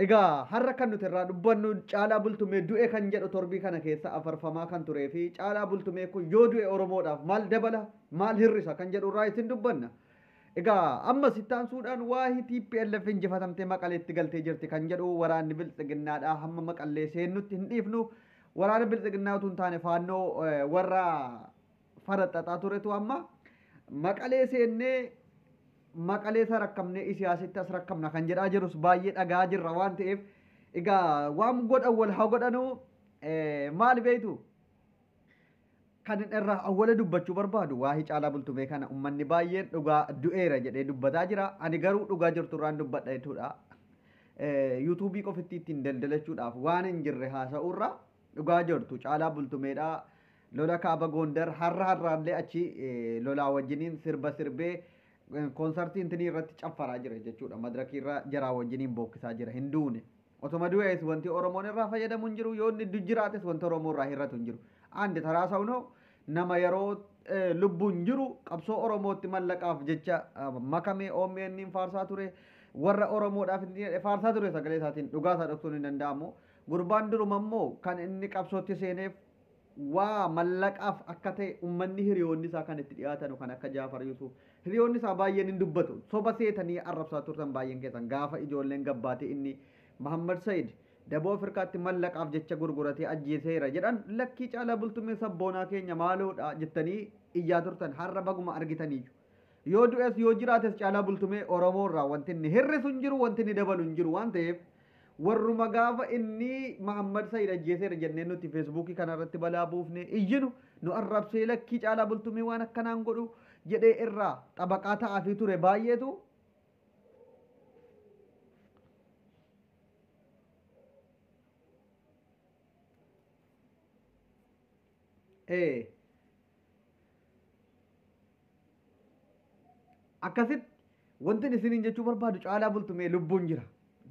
Egaa har'a kan nuti irraa dubbannu Caalaa Bultumee du'e kan jedhu torbii kana keessa afarfamaa kan turee fi Caalaa Bultumee kun yoo du'e Oromoodhaaf maal dabala, maal hir'isa kan jedhu irraa isin dubbanna. Egaa ammas itti aansuudhaan waahi tplf injifatamtee Maqaleetti galtee jirti kan jedhu waraanni Biltsiginnaadhaa hamma Maqallee seennutti hin dhiifnu, waraana Biltsiginnaa utuu hin taane Faannoo warra faraxaxaa turetu amma maqalee seennee maqalee isa rakkamnee isiyaasitti as rakkamna kan jedhaa jirus baay'ee dhagaa jirra waan ta'eef egaa waan godhan wal haa godhanuu maal beektu kan irraa awwala dubbachuu barbaadu waa hicaalaa bultumee kana ummanni baay'een dhugaa du'eera jedhee dubbataa jira ani garuu dhugaa jirtu irraan dubbadha jechuudha yuutuubii qofitti ittiin daldalachuudhaaf waan hin jirre haasa'uurra dhugaa jirtu caalaa bultumeedhaa Lola Kaaba Goondar harra harraallee achi lolaa wajjiniin sirba sirbee konsartii intinii irratti caffaraa jira jechuudha. Madirakii irra jaraa wajjiniin bookkisaa jira. Hin duune. Otoma du'ees wanti Oromoon irraa fayyadamu hin jiru. Yoo inni du jiraates wanta Oromoo irraa hir'atu hin jiru. Andi taraa sawnoo nama yeroo lubbuun jiru qabsoo Oromootti mallaqaaf jecha makamee OMN faarsaa ture. Warra Oromoodhaaf faarsaa ture sagalee isaatiin dhugaa isaa dhoksuun hin danda'amu. Gurbaan duruma immoo kan inni qabsootti seeneef waa mallaqaaf akka ta'e ummanni hiriyoonni isaa kan itti dhiyaatanu kan akka Jaafar Yusuuf hiriyoonni isaa baay'een hin dubbatu soba seetanii arrabsaa turtan baay'een keessan gaafa ijoolleen gabbaatee inni Mahammad Sayid daboo Afirkaatti mallaqaaf jecha gurguratee ajjeeseera jedhan lakkii caalaa bultummee sabboonaa keenya maaloodha jettanii iyyaa turtan har'a baguma argitaniiyyu yoo du'es yoo jiraates caalaa bultumee Oromoo irraa wanti inni hir'isu hin jiru wanti inni dabalu hin jiru waan ta'eef Warruma gaafa inni Mahammad Sayid ajjeeseera jennee nuti Feesbuukii kana irratti balaa buufnee iyyinu nu arrabsee lakkii Caalaa Bultumee waan akkanaa hin godhu jedhee irraa xabaqaa ta'aafii ture baay'eetu ee akkasitti wantin isiniin jechuu barbaadu caalaa bultumee lubbuun jira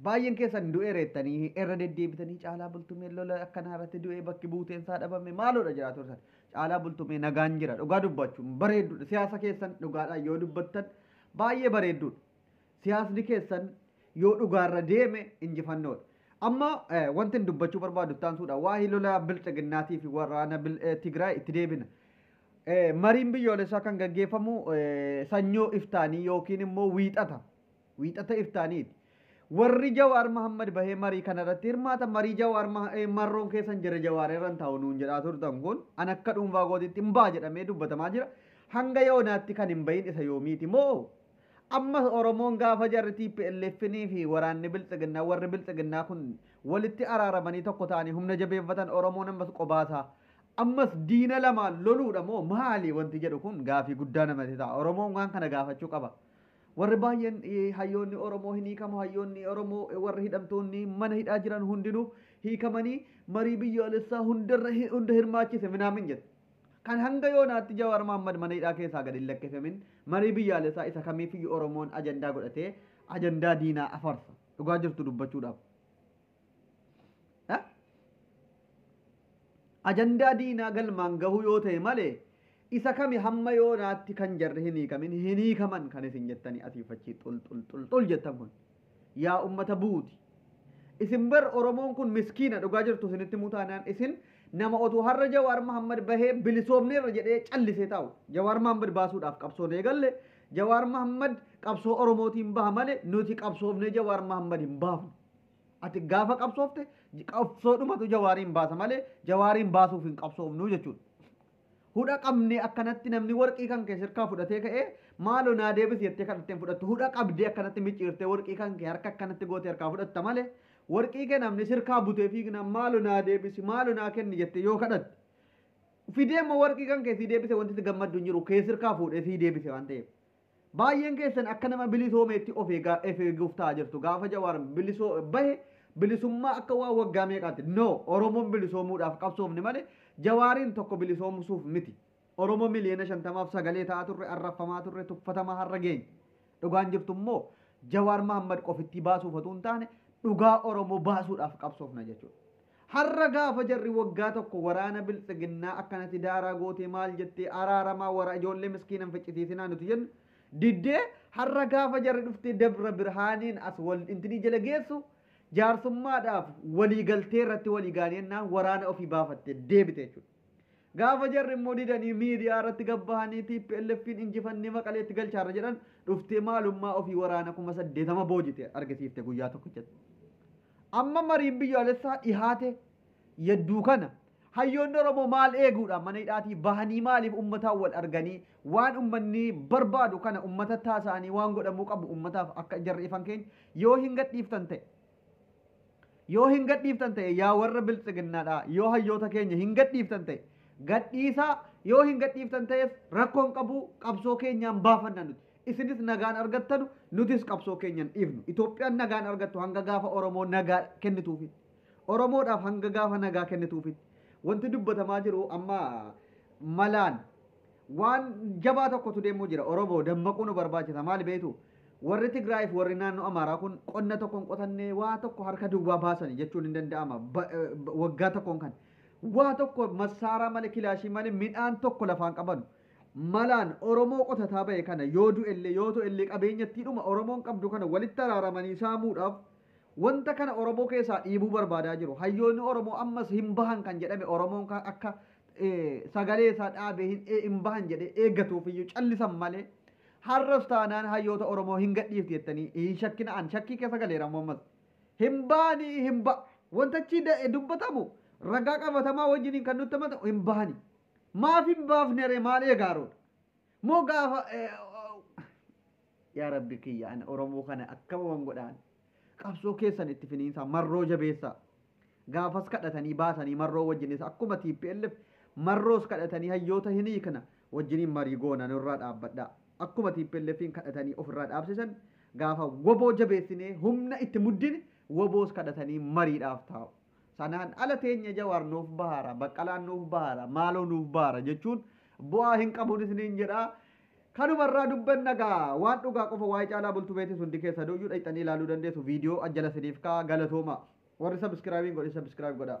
baay'een keessan du'ee reettanii irra deddeebitanii caalaa bultumee lola akkanaa irratti du'ee bakki buuteen isaa dhabame maaloodha jiraatu irra caalaa bultumee nagaan jira dhugaa dubbachuun bareedduudha siyaasa keessan dhugaadhaan yoo dubbattan baay'ee bareedduudha Siyaasni keessan yoo dhugaarra deeme injifannoodha. Amma wantin dubbachuu barbaadu itti aansuudha. Waa'ee lola bilxiginnaatii fi waraana Tigraay itti deebina. Mariin biyyoolessaa kan gaggeeffamu sanyoo iftaanii yookiin immoo wiixata. Wiixata iftaaniiti. Warri Jawaar Mahammad bahee marii kanarratti hirmaata. Marii Jawaar marroon keessan jira Jawaar irra hin taa'u nuun jedhaa turtan kun an akka dhuunfaa kootiitti hin ba'a jedhamee dubbatamaa jira. Hanga yoonaatti kan hin bahin isa yoomiiti moo Ammas Oromoon gaafa jarri TPLFn fi waraanni Biltsiginnaa, warri Biltsiginnaa kun walitti araaramanii tokko ta'anii humna jabeeffatan Oromoon ammas qobaasaa ammas diina lamaan loluudha moo maali wanti jedhu kun gaafii guddaa namati ta'a. Oromoon waan kana gaafachuu qaba. Warri baay'een hayyoonni Oromoo hin hiikamu, hayyoonni Oromoo warri hidhamtoonni mana hidhaa jiran hundinuu hiikamanii marii biyyaalessaa hundarra hunda hirmaachise minaamin jedhu. Kan hanga yoonaatti Jawaar Mahaammad mana hidhaa keessaa gad hin lakkifamin marii biyyaalessaa isa kamiifiyyu Oromoon ajandaa godhatee ajandaa diinaa afarsa. Dhugaa jirtu dubbachuudhaaf. Eh? Ajandaa diinaa galmaan gahuu yoo ta'e malee isa kami hamma yoonaatti kan jarri hin hiikamin hin hiikaman kan isin jettanii asiifachi xul xul xul xul jettan kun. Yaa ummata buuti. Isin bar oromoon kun miskiina dhugaa jirtu isinitti himuu taanaan isin nama otuu harra jawaar mahammad bahee bilisoomneerra jedhee callisee taa'u jawaar mahammad baasuudhaaf qabsoon eegalle jawaar mahammad qabsoo oromootiin baha male nuti qabsoofnee jawaar mahammad hin baafnu ati gaafa qabsoofte qabsoodhumatu jawaariin baasa male jawaariin baasuuf hin qabsoofnu jechuudha Hudha qabnee akkanatti namni warqii kan kee sirkaa fudhatee ka'ee maaloo naa deebisi jettee kadhattee hin fudhattu. Hudha qabdee akkanatti micciirtee warqii kan kee harka akkanatti gootee harkaa fudhatta malee warqii kee namni sirkaa butee fiignaan maaloo naa deebisi maaloo naa kenni jettee yoo kadhatte. Fidee immoo warqii kan kee sii deebise wanti itti gammaddu hin jiru kee sirkaa fuudhee sii deebise waan ta'eef. Baay'een keessan akka nama bilisoomeetti of eegaa of eeguuf ta'aa jirtu. Gaafa Jawaar bilisoo bahe bilisummaa akka waan waggaa meeqaatti. No! Oromoon bilisoomuudhaaf qabsoofne malee Jawaariin tokko bilisoomsuuf miti. Oromoo miliyoona 50f sagalee ta'aa turre, arrabfamaa turre, tuffatamaa har'a geenye. Dhugaan jirtu immoo Jawaar Mahaammad qofittii baasuuf otuu hin taane dhugaa Oromoo baasuudhaaf qabsoofna jechuudha. Har'a gaafa jarri waggaa tokko waraana biltsiginnaa akkanatti daaraa gootee maal jettee araaramaa wara ijoollee miskiina hin ficcisiisinaa nuti jennu diddee har'a gaafa jarri dhuftee Dabra Birhaaniin as wal intinii jala geessu jaarsummaadhaaf walii galtee irratti walii gaanii ennaan waraana ofii baafatte deebite jechuudha. Gaafa jarri immoo didanii miidiyaa irratti gad bahanii TPLFn injifannee Maqaleetti galchaarra jedhan dhuftee maalummaa ofii waraana kuma saddeetama boojite argisiifte guyyaa tokkichatti. Amma mariin biyyaalessaa dhihaate yadduu kana hayyoonni Oromoo maal eeguudhaan mana hidhaatii bahanii maaliif ummataan wal arganii waan ummanni barbaadu kana ummatatti haasa'anii waan godhamuu qabu ummataaf akka jarri ifan keenya yoo hin gadhiiftan ta'e yoo hin gadhiiftan ta'e yaa warra biltsiginnaadhaa yoo hayyoota keenya hin gadhiiftan ta'e gadhiisaa yoo hin gadhiiftan ta'es rakkoon qabu qabsoo keenyaan baafanna nuti. Isinis nagaan argattanu nutis qabsoo keenya hin dhiifnu. Itoophiyaan nagaa hin argattu hanga gaafa Oromoo nagaa kennituufitti. Oromoodhaaf hanga gaafa nagaa kennituufitti. Wanti dubbatamaa jiru amma malaan waan jabaa tokkotu deemuu jira. Oromoo dammaquu nu barbaachisa. Maali beektu? Warri Tigraayii fi warri naannoo Amaaraa kun qonna tokko hin qotanne waa tokko harka duwwaa baasani jechuun hin danda'ama. Ba- eh, ba- Waggaa tokkoon kan. Waa tokko massaaraa malee kilaashii malee midhaan tokko lafaan qabanu. malaan Oromoo qotataa bahe kana yoo du'ellee yoo to'ellee qabeenyattiidhuma Oromoon qabdu kana walitti araaramanii saamuudhaaf wanta kana Oromoo keessaa dhiibuu barbaadaa jiru. Hayyoonni Oromoo ammas hin bahan kan jedhame Oromoon kan akka sagalee isaa dhaabee hin, hin bahan jedhee eeggatuufiyyuu callisan malee har'as taanaan hayyoota Oromoo hin gadhiifti jettanii hin shakkina an shakkii keessa galeera ammoo ammas. Hin bahanii hin ba wanta achii da- dubbatamu ragaa qabatamaa wajjiniin kan nutti himatamu hin bahanii. Maaf hin baafnere maal eegaaruudha? Moo gaafa yaa rabbi kiyya ana oromoo kana akkama wan godhaan qabsoo keessan itti finiinsaa marroo jabeessaa gaafas kadhatanii baatanii marroo wajjinis akkuma TPLF marroos kadhatanii hayyoota hin hiikna wajjiniin marii goona nurraa dhaabbadhaa akkuma TPLFiin kadhatanii ofirraa dhaabsisan gaafa woboo jabeessinee humna itti muddine woboos kadhatanii mariidhaaf taa'u. Sanaan ala teenya Jawaar nuuf bahaara, Baqqalaan nuuf bahaara, maaloo nuuf bahaara jechuun bu'aa hin qabun isiniin jedha. Kanuma irraa dubbanna gaa waan dhugaa qofa waa'ee Caalaa Bultu beetis hundi keessanuu iyyuu dhaqxanii ilaaluu dandeessu. Viidiyoo as jala isiniif kaa'a. Galatoomaa. Warri subscribe hin godhin subscribe godhaa.